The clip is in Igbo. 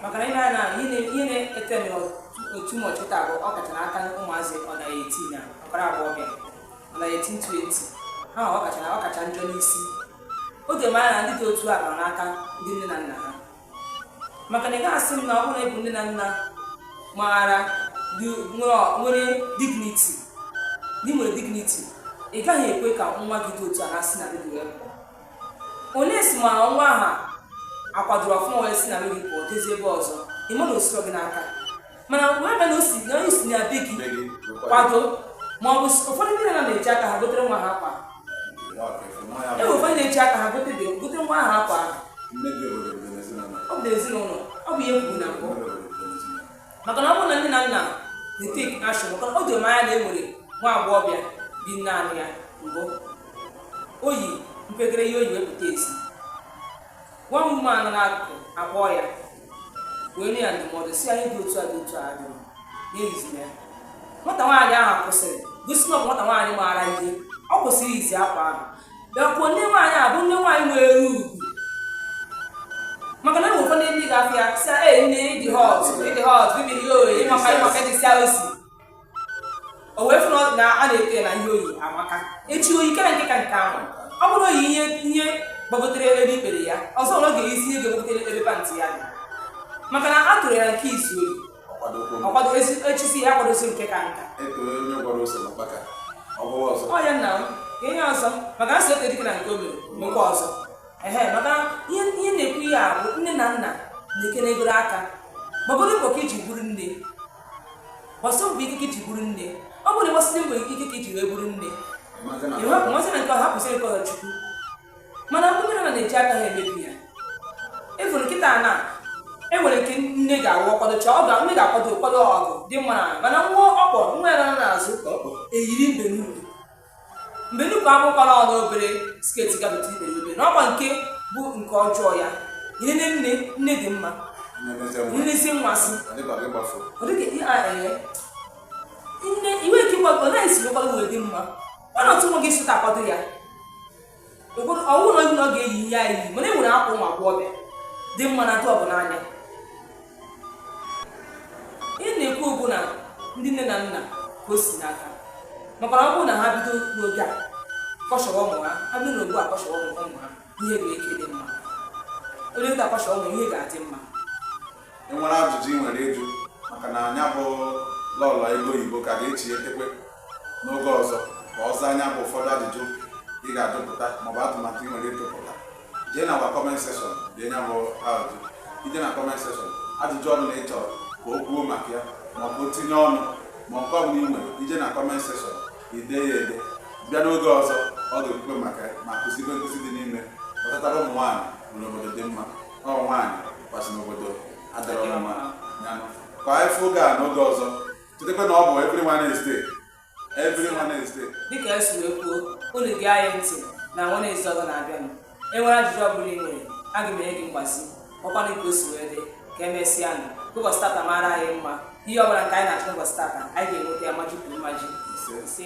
maka na ị nee anya ihe na- ihe na-ete m otu ụbọchị taa bụ ọ kacha n'aka ụmụazị nọ na eighteen ụmụ agbọghọbịa nọ na eighteen twenty ha ọ kacha na ọ kacha njọ n'isi oge mara na ndị dị otu a nọ n'aka ndị nne na nna ha maka na ị gaghị asị m na ọ bụrụ na ị bụ nne na nna maara dị- nwere- nwere dignity na ị nwere dignity ị gaghị ekwe ka nwa gị dị otu a si na be gị wee pụọ Unless ma nwa ahụ akwadoro ọfụma wee si na be gị pụọ jezie ebe ọzọ ị ma na o sirọ gị n'aka mana wee mee na o si na o si na be gị kwado ma ọ bụ ụfọdụ ndị nne na-eji aka ha gotere nwa ha akwa e nwere ụfọdụ na-eji aka ha gote gotere nwa ha akwa ọ bụ n'ezinụlọ ọ bụ ihe e kwuru na mbụ maka na ọ bụrụ na nne na nna na-etake action maka na o doro m anya na e nwere nwa agbọghọbịa bi naanị ya mgbe o yi mpekere ihe o yi wee pụta ezi nwa mma nọ n'akụkụ akpọọ ya wee nye ya ndụmọdụ sị ya ihe dị otu a dị otu a dị n'ehiziri ya nwata nwaanyị ahụ kwụsịrị gosi na ọ bụ nwata nwaanyị maara ihe ọ kwụsịrị iyi akwa ahụ bịakwuo nne nwaanyị a bụ nne nwaanyị nwere ugwu maka na ụfọdụ ndị ndị ga-afụ ya sị ee nne ị dị hot ị dị hot baby ihe o yi ị maka ị maka dị sia osi o wee fụ na a na-ekwu na ihe o yi amaka echi o yi kere nke ka nke ahụ ọ bụrụ o yi ihe ihe gbagotere ebe ikpere ya ọzọ ọ ga-eyizi ihe ga-agbagote ebe pantị ya maka na a toro ya nke izizi o yi ọ kwado echisi ya kwadozie nke ka nka ọ ya nna m ihe ọzọ maka a sị too dike na nke o mere mekwa ọzọ ehe maka ihe na-ekwu ihe a bụ nne na nna na-ekenegoro aka gbagodo mbọ ka i ji bụrụ nne gbasie mbọ ike ka i ji bụrụ nne ọ bụrụ na ị gbasiri mbọ ike ka i ji wee bụrụ nne ị hapụ masị na nke ọ hapụziri nke ọzọ chukwu mana ndị nne na-eji aka ha emebi ya ị fụrụ kịta na e nwere nke nne ga-awụ ọ kwadochaa ọ ga nne ga-akwado nkwado ugwu dị mma na mana nwa ọ kpọ nwa ya nọ n'azụ eyiri mbe n'ukwu mbe n'ukwu akwụkwara ọ n'obere sketi gabata ikpere n'obe na ọkwa nke bụ nke ọjọọ ya ihe nne nne nne dị mma na-ezi nwa sị ọ dịka ihe a ee nne iwe nke ịgwa ọ naghị esi akwado wee dị mma ọ na-atụ nwa gị sụta akwado ya ụfọdụ ọ wụ na onye na ọ ga-eyi ihe anyị yi mana e nwere akwa ụmụ agbọghọbịa dị mma na dị ugwu n'anya ihe m na-ekwu bụ na ndị nne na nna ka o si n'aka maka na ọ bụrụ na ha bido n'oge a caution ụmụ ha ha bido na gboo a caution ụmụ ụmụ ha ihe ga-aka adị mma onye nta caution ụmụ ihe ga-adị mma i nwere ajụjụ ị nwere ịjụ maka na nya bụ Lọlọ Ego Oyibo ka ga-echi etekwe n'oge ọzọ ka ọ zaa nya bụ ụfọdụ ajụjụ ị ga-ajụpụta maọbụ atụmatụ ị nwere ịtụpụta jee na agwa kọment sekshọn dee nya bụ ajụjụ i jee na comment section ajụjụ ọbụna ị chọrọ ka o kwuo maka ya ma ọ tinye ọnụ ma nke ọbụla ị nwere i jee na comment section i dee ya ede bịa n'oge ọzọ ọ ga-ekwukwe maka ma kụzibe nkụzi dị n'ihe metụtara ụmụ nwaanyị n'obodo dị mma Ọ nwaanyị kwasị n'obodo adịrọla mma ngwanụ ka anyị fụ oge a n'oge ọzọ chetakwa na ọ bụ every Wednesday every Wednesday dịka e si wee kwuo unu gee anyị ntị na Wednesday ọzọ na-abịanụ e nwere ajụjụ ọ bụla ị nwere aga m enye gị mgbazi ọ kwanụ ka o si wee dị ka emesịanụ ụbọchị tata mara anyị mma ihe ọ bụla nke anyị na-achọ ụbọchị tata anyị ga-enweta ya maji kwuru maji ise